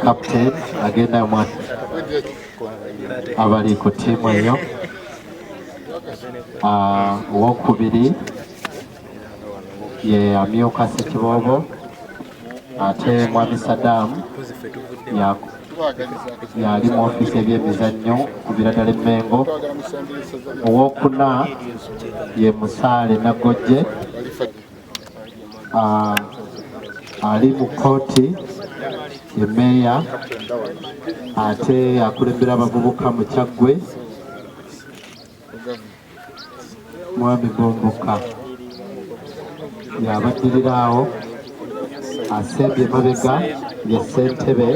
captain agenda mwa abali ku tiimu eyo ah, owokubiri ye amyuka sekiboobo ate mwami sadaamu yali mu ofiisi ebyemizannyo ku biradala emmengo owokuna ye musaale naggojje ah, ali mu kkooti ye meeya ate akulembera abavubuka mu kyaggwe mwami gomboka yabaddirira awo asembye mabega ye ssentebe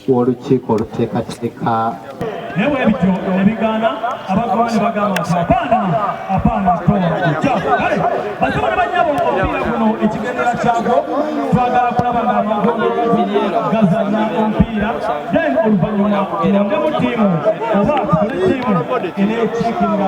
w'olukiiko oluteekateeka naye bwebityo nebigaana abagaba ne bagamba nti apaana apaana toakyaffe kale basaba ne banyabo omupiira guno ekigendera kyagwo twagala kulaba nga amagondo gazanya omupiira then oluvannyuma tulondemu ttiimu oba tukole ttiimu enekiikirira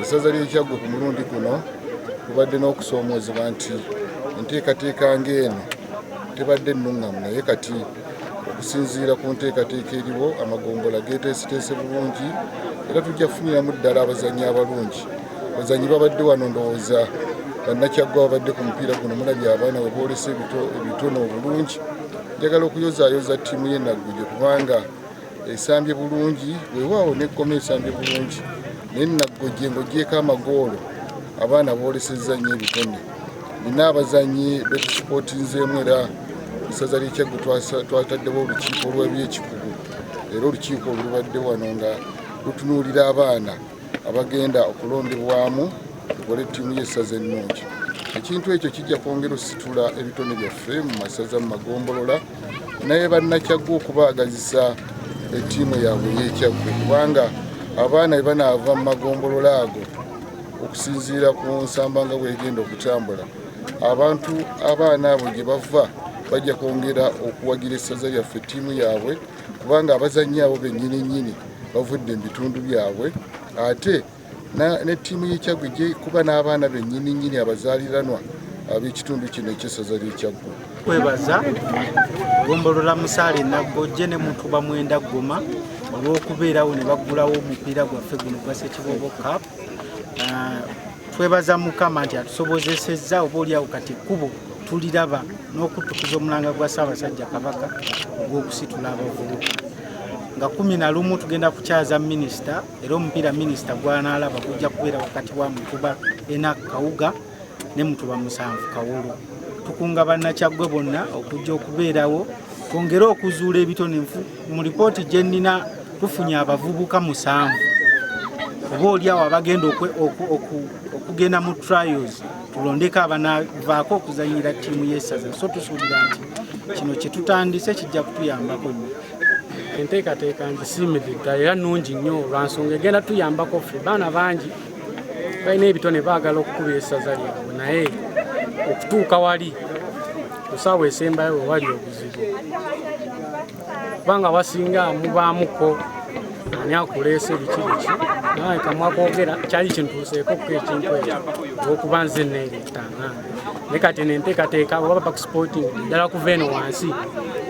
essaza ly'ekyaggwe ku mulundi guno kubadde n'okusoomoozebwa nti enteekateeka ng'eno tebadde nnuŋŋamu naye kati okusinziira ku nteekateeka eriwo amagombola geeteeseteese bulungi era tujja kufuniramu ddala abazannyi abalungi Bazanyi babadde wano ndowooza bannakyaggwa babadde ku mupiira guno mulabye abaana we boolesa ebitone obulungi njagala okuyozaayoza ttiimu ye nagguje kubanga esambye bulungi wewaawo nekkoma esambye bulungi naye nagguje ng'ogyeko amagoolo abaana boolesezza nnyo ebitone nina abazanyi betusipotinzeemu era esaza lyekyaggu twataddewo olukiiko olwebyekikugu era olukiiko olubadde wano nga lutunuulira abaana abagenda okulondebwamu tukole ttiimu y'essaza ennungi ekintu ekyo kijja kwongera ositula ebitone byaffe mu masaza mu magombolola naye bannakyaggwa okubaagazisa ettiimu yaabwe ey'ekyaggwe kubanga abaana bwe banaava mu magombolola ago okusinziira ku nsamba nga bwegenda okutambula abantu abaana abo gye bava bajja kwongera okuwagira essaza lyaffe ttiimu yaabwe kubanga abazannyi abo bennyini nnyini bavudde mu bitundu byabwe ate ne ttiimu y'ekyaggwe ejja kuba n'abaana bennyini nnyini abazaaliranwa ab'ekitundu kino ekyesaza ly'ekyaggwe kwebaza gombolola musaale naggojje ne mutuba mwenda ggoma olw'okubeerawo ne baggulawo omupiira gwaffe guno gwa sekibobo cap Ah, twebaza mukama nti atusobozesezza oba oliawo kati ekkubo tuliraba n'okutukuza omulanga gwa ssaabasajja kabaka ogw'okusitula abavubuka nga kumi na lumu tugenda kukyaza minisita era omupiira minisita gwanaalaba gujja kubeera wakati wa mukuba enak kawuga ne mutuba musanvu kawolo tukunga bannakyaggwe bonna okujja okubeerawo twongere okuzuula ebitone nfu mu lipooti gye nnina tufunye abavubuka musanvu oba oliawo abagenda okugenda mu trials tulondeko abanavaako okuzanyira ttiimu y'essaza so tusuubira nti kino kye tutandise kijja kutuyambako nnyo enteekateeka nzisiimidde ddala era nnungi nnyo lwa nsonga egenda tuyambako ffe baana bangi balina ebitone baagala okukuba esaza lyabwe naye okutuuka wali kusaawa esembayo wewali obuzibu kubanga wasinga mubaamuko ani akuleese biki biki naye kamwakwogera kyali kintuuseeko ku ekintu ekyo olwokuba nze neeretanga ne kati nenteekateeka oba bakusporting ddala kuva eno wansi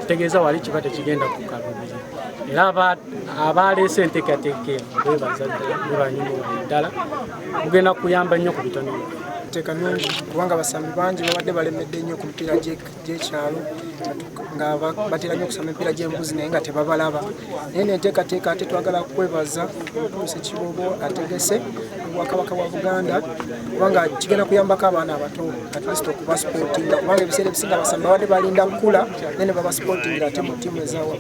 kitegeeza wali kiba tekigenda kukalubiri era abaaleese enteekateeka eno bebaza ddala bebanyumirwa ddala mugenda kuyamba nnyo ku bitono enteeka nungi kubanga abasambi bangi babadde balemedde nnyo ku mipiira gy'ekyalo nga batera nnyo okusama emipiira gy'embuzi naye nga tebabalaba naye nenteekateeka ate twagala kwebaza omutuusa ekibobo ategese obwakabaka bwa buganda kubanga kigenda kuyambako abaana abato atlist okubasupootinga kubanga ebiseera ebisinga abasambi babadde balinda kukula naye ne babasupootingira ate mu ttiimu ezawa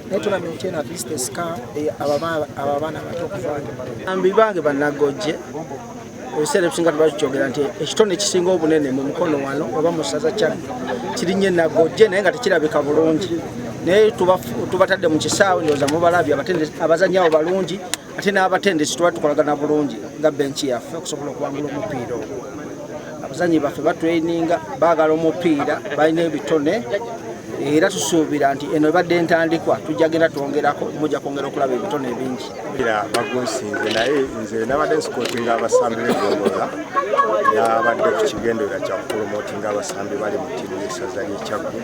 naye tournament eno at least esika eh, ababaana abato okuvaambi bange banagojje ebiseera ebisinga tubakikyogera nti ekitone ekisinga obunene mu mukono wano oba mu ssaza kyagge kirinye nagojje naye nga tekirabika bulungi naye tubatadde mu kisaawe ndooza mubalabye abazanyawo balungi ate n'abatendesi tuba tukolagana bulungi nga benki yaffe okusobola okuwangula omupiira ogwo abazanyi baffe batweininga baagala omupiira balina ebitone era tusuubira nti eno ebadde entandikwa tujja genda twongerako mujja kwongera okulaba ebitone ebingi era bagunsinze naye nze nabadde nsikoti nga abasambi begombola nabadde ku kigenderera kyakupromotinga abasambi bali mu tiimu yesaza lyekyaggu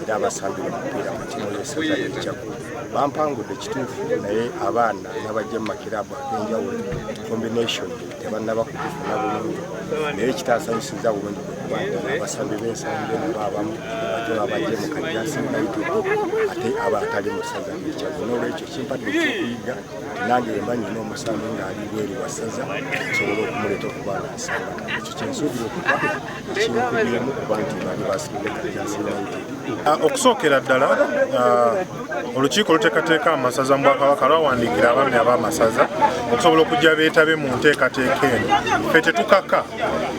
era abasambira omupiira mu tiimu y'essaza ly'enjaku bampangudde kituufu naye abaana nabajja mu makiraabu ag'enjawulo combination tebannaba kugifuna bulungi naye ekitaasanyusiza bulungi abasambi b'ensambi nabo abamu ate babajje mu kajasi naituku ate aba atali mu ssaza ly'ekyaku n'olwekyo kimpadde ekyokuyiga nange wemba nyina omusambi ng'ali bweri wa ssaza nsobola okumuleeta okuba nga nsamba ekyo kyensuubira okuba Ah, okusookera ddala ah, olukiiko oluteekateeka amasaza mu bwakabaka lwawandiikira abaami ab'amasaza okusobola okujja beetabe mu nteekateeka eno fe tetukaka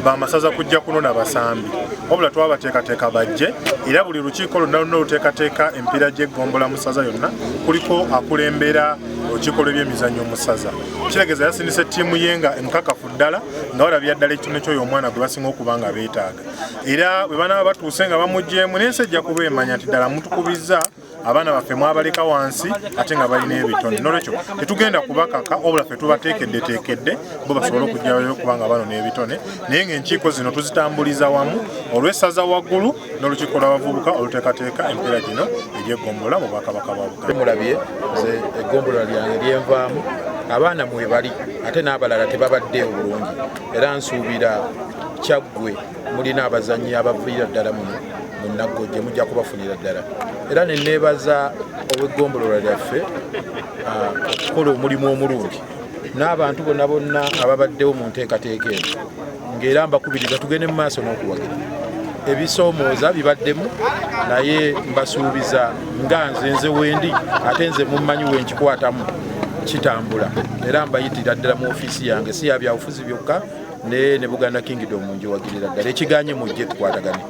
bamasaza kujja kunona basambi wabula twabateekateeka bajje era buli lukiiko lonna luna oluteekateeka empiira gy'eggombola mu ssaza yonna kuliko akulembera olukiiko lw'ebyemizannyo mu ssaza kiregeza yasindisa ettiimu ye nga enkakafu ddala nga balabira ddala ekitone kyoyo omwana gwe basinga okuba nga beetaaga era bwe banaaba batuuse nga bamugyemu n'ensi ejja kuba emanya nti ddala mutukubizza abaana baffe mwabaleka wansi ate nga balina ebitone nolwekyo tetugenda kubakaka obula fe tubateekeddeteekedde bo basobole okujjayo okuba nga bano n'ebitone naye ngaenkiiko zino tuzitambuliza wamu olw'essaza waggulu n'olukiiko lw'abavubuka oluteekateeka empeera gino egy'eggombolola mu bwakabaka bwa buganda mulabye nze eggombolola lyange lyenvaamu abaana mwe bali ate n'abalala tebabadde obulungi era nsuubira kyaggwe mulina abazannyi abaviira ddala muno mu naggojje mujja kubafunira ddala era ne neebaza ow'eggombolola lyaffe ah, okukola omulimu omulungi n'abantu bonna bonna ababaddewo mu nteekateeka eno ng'era mbakubiriza tugende mu maaso n'okuwagira ebisoomooza bibaddemu naye mbasuubiza nga nze nze wendi ate nze mummanyi wenkikwatamu kitambula era mbayitira ddala mu ofiisi yange si yabyabufuzi byokka ne ne buganda kingdom njiwagirira ddala ekiganye mujje tukwatagane